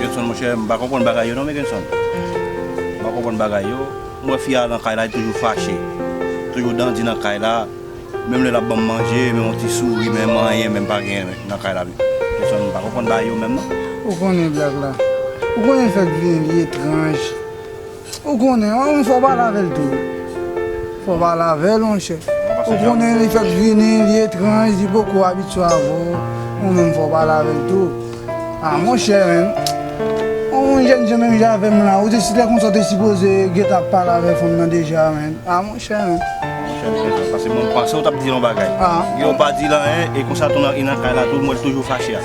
Genson monchè m pa konprann bagay yo non men Genson M pa konprann bagay yo M wè fi a nan kay la li toujou fache Toujou dandi nan kay la Menm lè l ap ban m manje menm yon ti souri menm anyen menm pa gen nan kay la Genson m pa konprann bagay yo menm non. Ou konnen blag la Ou konnen l fè k vin etranj. Ou konnen, ou fò pale avèl tou. Fò pale avèl monchè. Ou konnen li fèk vini, li etranj, li poko abitye avè w. Ou menm fò pale avèl tou. A monchè men, ou yon jènjan menm jan avè m la, ou te si lè konsa ou te sipoze gentan ap pale avè fanm nan deja men. A monchè men. Monchè m gentan pase bon, m panse ou t ap di yon bagay. Ou pa di l anyen e konsa tou nan kay la tou m wè l toujou fache a.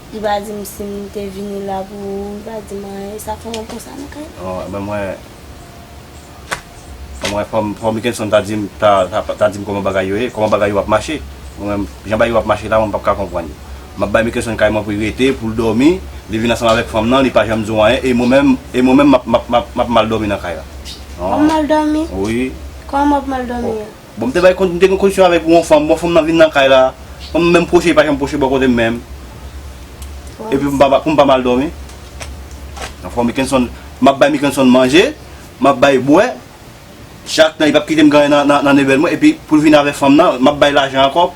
Li pa di m si m te vini la pou ou, li pa di m anyen. E sa k fè mwen konsa nan kay la? Oh, men mwen. Mwen wè fò m, fò Mickenson ta di m, ta, ta di m kòman bagay yo ye, kòman bagay yo ap mache. Mwen menm, jan bagay yo ap mache la, mwen m pap ka konprann yo. M ap bay Mickenson kay mwen pou l rete, pou l dòmi, li vin ansanm avèk fanm nan, li pa janm di w anyen, e mwen menm, e mwen menm m ap, m ap, m ap mal dòmi nan kay la. Wap mal dòmi? Wi. Kòman w ap mal dòmi an? Bon m te bay m te gen koneksyon avèk yon fanm, bon fanm nan vin nan kay la, fanm nan menm pwoche li pa janm pwoche bò kote m menm. Epi m pa pou m pa mal dòmi. Nan fwa Mickenson, m ap bay Mickenson manje, m ap bay bwè, chak tan li p ap kite m ganyen nan nevèl mwen epi pou l vin avèk fanm nan, m ap bay lajan ankò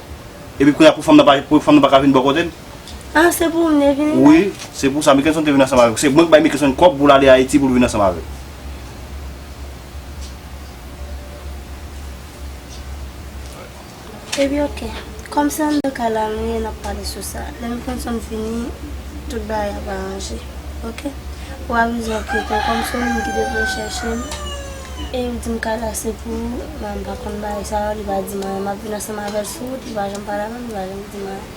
epi kounye a pou fanm nan pa pou fanm nan pa ka vin bò kote m. Ah se pou mne vini la? Wi, se pou sa Mickelson te vini ansanm avèk ou. Se mwen ki bay Mickelson kòb pou l ale Ayiti pou l vini ansanm avèk. Epi ok, kòm se anndan kay la nou ye n ap pale sou sa. Lè Mickelson fini, tout bagay ap aranje. Ok? Ou avize anketè w kòm se ou menm ki te vle chèche m e ou di m kay la se pou ou. Mwen m pa konn bagay sa yo, li pa di m anyen. M ap vini ansanm avè l sou wout, li pa janm pale avè m, li pa janm di m anyen.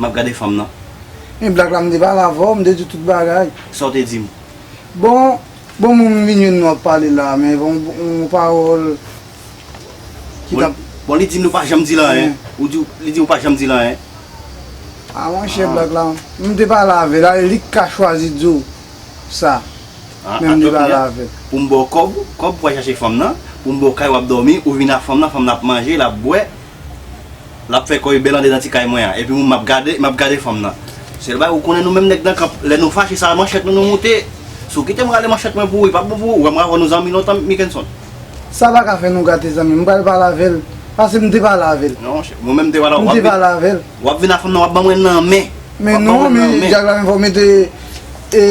Map gade fanm nan. Men black la m te pale avèw, m te diw tout bagay. Sa w te di m? Bon, bon moun m vin jwenn nou ap pale la, men bon yon pawòl ki tap. Bon li di nou pa janm di l anyen, ou di, li di ou pa janm di l anyen. A monchè black la, m te pale avèl, alè li k ka chwazi di w sa, men m te pale avèl. Pou m ba w kòb, kòb pou w al chache fanm nan, pou m ba w kay wap dòmi, ou vin ak fanm nan, fanm nan ap manje, lap bwè. Lap fè kòy bèl anlè nan ti kay mwen an epi mwen map gade map gade fanm nan sèl bagay ou konnen nou menm nèg nan kanp lè nou fache sa manchèt nou nou moute sou kitem rale manchèt mwen pou ou li pap bon pou ou wèm ravò nou zanmi lontan Mickenson. Sa paka fè nou gate zanmi m pral pale avèl pase m te pale avèl Non monchè mwen menm m te pale m te pale avèl. Wap vin a fanm nan wap ban mwen nan men. Men non men Jack la men fòw mete e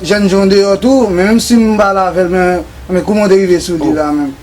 jènjan w deyò tou men menm sim pale avèl men kouman w te rive sou li la menm.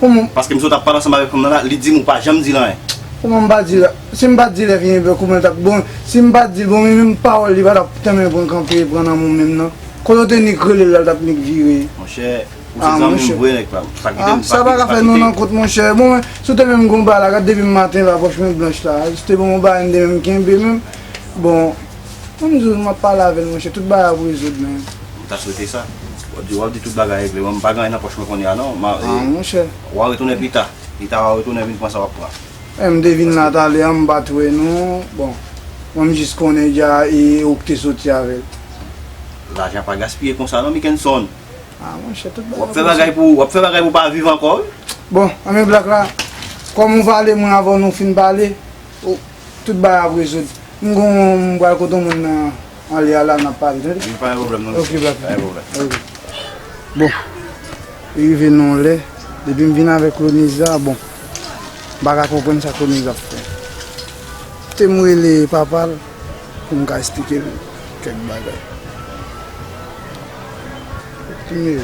Kouman. Paske m sot ap pale ansanm avèk fanm nan la, li di m ou pa janm di l anyen. Kouman m pa di l, si m pat di l epi yon bè kouman l tap bon, si m pat di l bon men menm pawòl li pa tap tanmen pran kanpe pran nan mou menm nan. Kote w te nik rele l la l tap nik vire. Monchè, ou se zanmi m vre nèg pa m. Pa kite m, pa kite m. Sa pa ka fè nou nan kont monchè. Bon men, si w te menm gen yon bagay la, gad depi maten la pòch mwen blanch la. Si w te ban m yon bagay m te menm kenbe menm, bon. Menm jou map pale avèl monchè tout bagay ap rezoud menn. M ta swete sa. Wap di wap di tout bagay regle men m pa gen anyen nan pòch mwen kounye a non. Ah monchè. Wa retounen pita. Pita wa retounen vin pran sa wap pran. Eeh m te vin la talè an m pat wè nou bon mwen m jis konnen dja e ou k te soti avèl. Lajan pa gaspiye konsa non Mickenson. Ah monchè tout bagay ap rezoud. Wap fè bagay pou w pa viv ankò wi. Bon anben black la kòm ou pale mwen avan nou fin pale Oh tout bagay ap rezoud. M gon m pral kote yon moun nan anlè a la nap pale tande. Wi pa gen pwoblèm nan mesye. Ok black. Pa gen pwoblèm. Ok. Bon li rive nan yon lè depi m vin avèk Lonise la bon m paka konprann sa Lonise ap fè. Kite m rele papa l pou m ka esplike l kèk bagay. Anmeyy.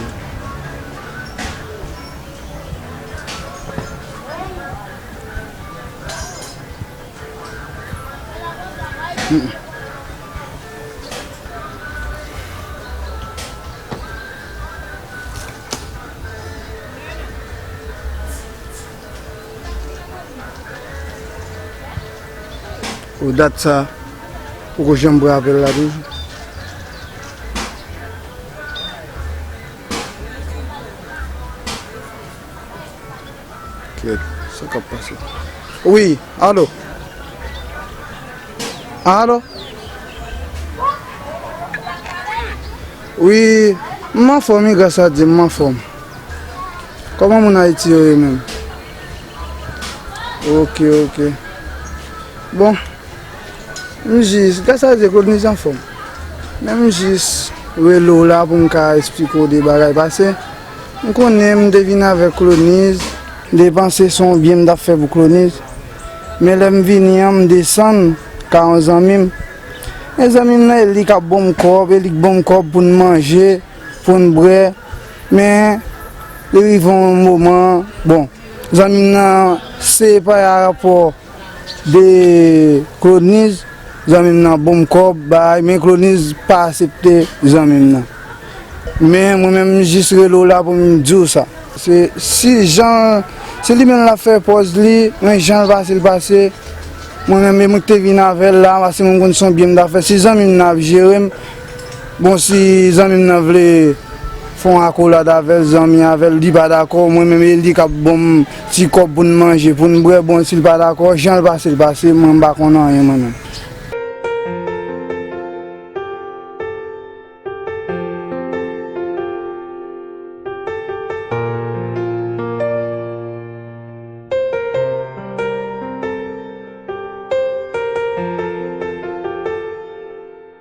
Ou dat sa, ou ko janm bra apèl la toujou. Trèt, sa kap pase? Wi, alo? Alo? Wi, m anfòm wi gras a Dye m anfòm. Kòman moun Ayiti yo ye menm? Ok, ok. Bon, m jis, gras a Dye Claudenise anfòm. Men m jis rele w la pou m ka esplike w de bagay pase. M konnen m te vin avèk Kloniz. Depanse se yon byen m t ap fè pou Kloniz. Men lè m vini an, m desann ka yon zanmi m. E zanmi m nan e li k ap bon m kòb, e li k bon m kòb pou n manje, pou n bwè. Men, li rive yon moman, bon, zanmi m nan se pa rapò. 2 kroniz zanmim nan bonm kob bay men kroniz pa asepte zanmim nan men mwen menm jis rele w la poum diw sa se si jan se li menm lap fè pòz li men janl pasel pase mwen menm e mwen ki te vin avèl la paske mwen konn son byen m ta fè si zanmim nan ap jerem. Bon si zanmim nan vle fon akolad avèl zanmi avèl li pa dakò mwen menm eli kap bonm ti kòb poun manje poun bwè bon sil pa dakò janl pasel pase mwen mpa konn anyen mwen menm.